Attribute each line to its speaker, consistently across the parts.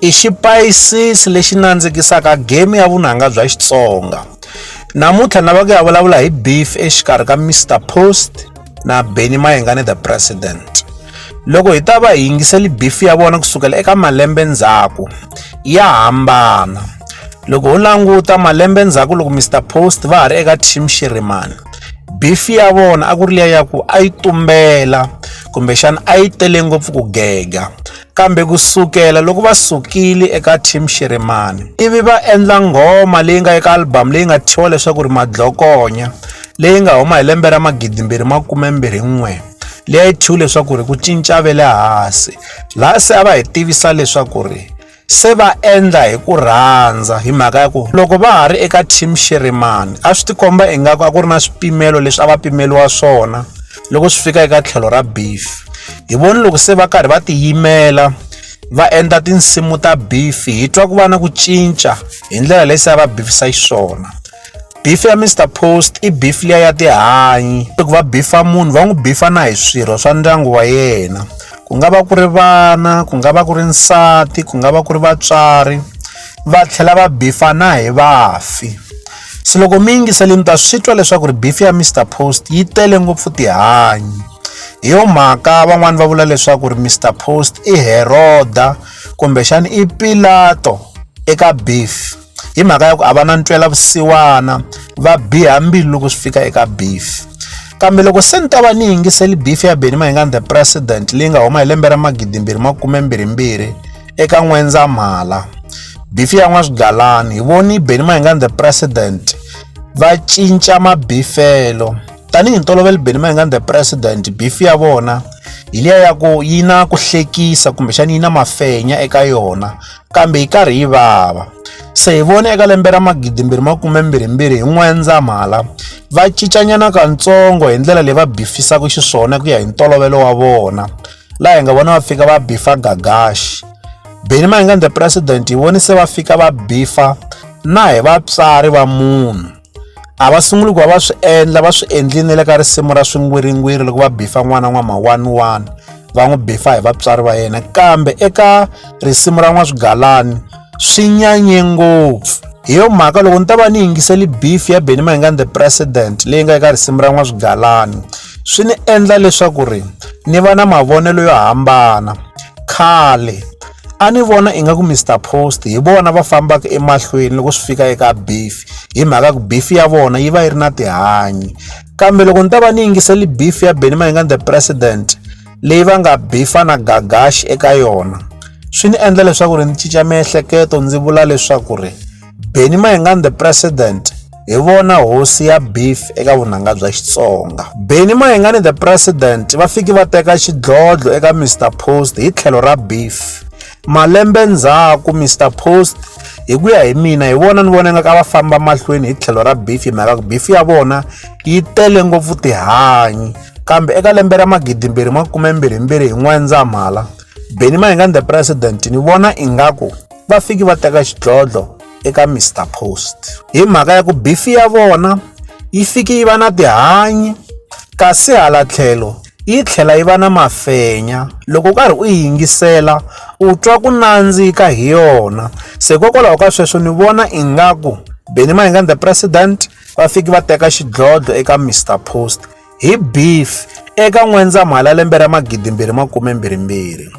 Speaker 1: i xipayisisi lexi nandzikisaka game ya vunanga bya Xitsonga. Namuntlha ni lava ku ya vulavula hi beef exikarhi ka Mr Post na Benny Mayengani the President. Loko hi ta va hi yingiseli beef ya vona kusukela eka malembe ndzhaku ya hambana. Loko ho languta malembe ndzhaku loko Mr Post va ha ri eka team Shirimani beef ya vona a ku ri liya ya ku a yi tumbela kumbexana a yi tele ngopfu ku gega kambe ku sukela loko va sukile eka team Xiremani ivi va endla nghoma leyi nga eka album leyi nga thyiwa leswaku ri madlokonya leyi nga huma hi lembe ra magidi mbirhi makume mbirhi n'we leyi a yi thyiwi leswaku ri ku cinca ve le hansi laha se a va hi tivisa leswaku ri se va endla hi ku rhandza hi mhaka ya ku loko va ha ri eka team Xiremani a swi tikomba ingaku a ku ri na swipimelo leswi a va pimeliwa swona loko swi fika eka tlhelo ra beef hi voni loko se va karhi va tiyimela va endla tinsimu ta beef hi twa ku va na ku cinca hi ndlela leyi se va bifisa xiswona beef ya Mr Post i beef liya ya tihanyi loko va bifa munhu va n'wi bifa na hi swirho swa ndyangu wa yena ku nga va ku ri vana ku nga va ku ri nsati ku nga va ku ri vatswari va tlhela va bifa na hi vafi Se loko mi yingisele mi ta swi twa leswaku ri beef ya Mr Post yi tele ngopfu tihanyi hi yo mhaka van'wani va vula leswaku ri Mr Post i Heroda kumbexana i Pilato eka beef hi mhaka ya ku a va na ntwela vusiwana va biha mbilu loko swi fika eka beef kambe loko se ni ta va ni yingiseli beef ya Benny Mayengani the president leyi nga huma hi lembe ra magidimbirhi makume mbirhi mbirhi eka N'wendzamhala, bifi ya N'waswigalani, hi voni Benny Mayengani the President va cinca mabifelo. Tanihi ntolovelo Benny Mayengani the President bifi ya vona hi liya ya ku yi na ku hlekisa kumbexana yi na mafenya eka yona kambe yi karhi yi vava se hi vone eka lembe ra magidimbirhi makume mbirhimbirhi hi n'wendzamhala va cincanyana katsongo hi ndlela leyi va bifisaka xiswona ku ya hi ntolovelo wa vona laha hi nga vona va fika va bifa gagaxi beni ma hi nga the president hi voni se va fika va bifa na hi vatswari va munhu a va sunguli ku va va swi endla va swi endlini le ka risimu ra swingwiringwiri loko va bifa n'wana n'wama one one va n'wi bifa hi vatswari va yena kambe eka risimu ra n'waswigalani swi nyanye ngopfu hi yo mhaka loko ni ta va ni yingiseli beef ya benny mayingani the president leyi nga eka risimu ra n'waswigalani swi ni endla leswaku ri ni va na mavonelo yo hambana khale a ni vona ingaku mr post hi vona va fambaka emahlweni loko swi fika eka beef hi mhaka ku beef ya vona yi va yi ri na tihanyi kambe loko ni ta va ni yingiseli beef ya benny mayingani the president leyi va nga bifa na gagaxi eka yona swi ni endla leswaku ri ni cinca miehleketo ndzi vula leswaku ri Benny Mayengani the president hi vona hosi ya beef eka vunanga bya Xitsonga. Benny Mayengani the president va fiki va teka xidlodlo eka Mr Post hi tlhelo ra beef. Malembe ndzhaku, Mister Post, hi ku ya hi mina, hi vona ni vona nga ka va famba mahlweni hi tlhelo ra beef hi mhaka ku beef ya vona yi tele ngopfu tihanyi. Kambe eka lembe ra magidimbirhi makume mbirhi mbirhi hi N'wendzamhala, Benny Mayengani the President, ni vona ingaku va fiki va teka xidlodlo eka Mister Post. Hi mhaka ya ku beef ya vona yi fiki yi va na tihanyi kasi hala tlhelo, yi tlhela yi va na mafenya loko u karhi u yi yingisela u twa ku nandzika hi yona se hikokwalaho ka sweswo ni vona ingaku Benny Mayengani the president va fiki va teka xidlodlo eka Mr Post hi beef eka N'wendzamhala lembe ra magidimbirhi makume mbirhimbirhi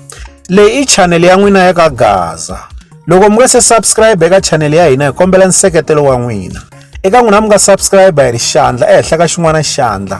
Speaker 1: leyi i chanele ya n'wina ya ka Gaza loko mi nga se subscribe eka chanele ya hina hi kombela nseketelo wa n'wina eka n'wina mi nga subscribe hi ri xandla ehenhla ka xin'wana xandla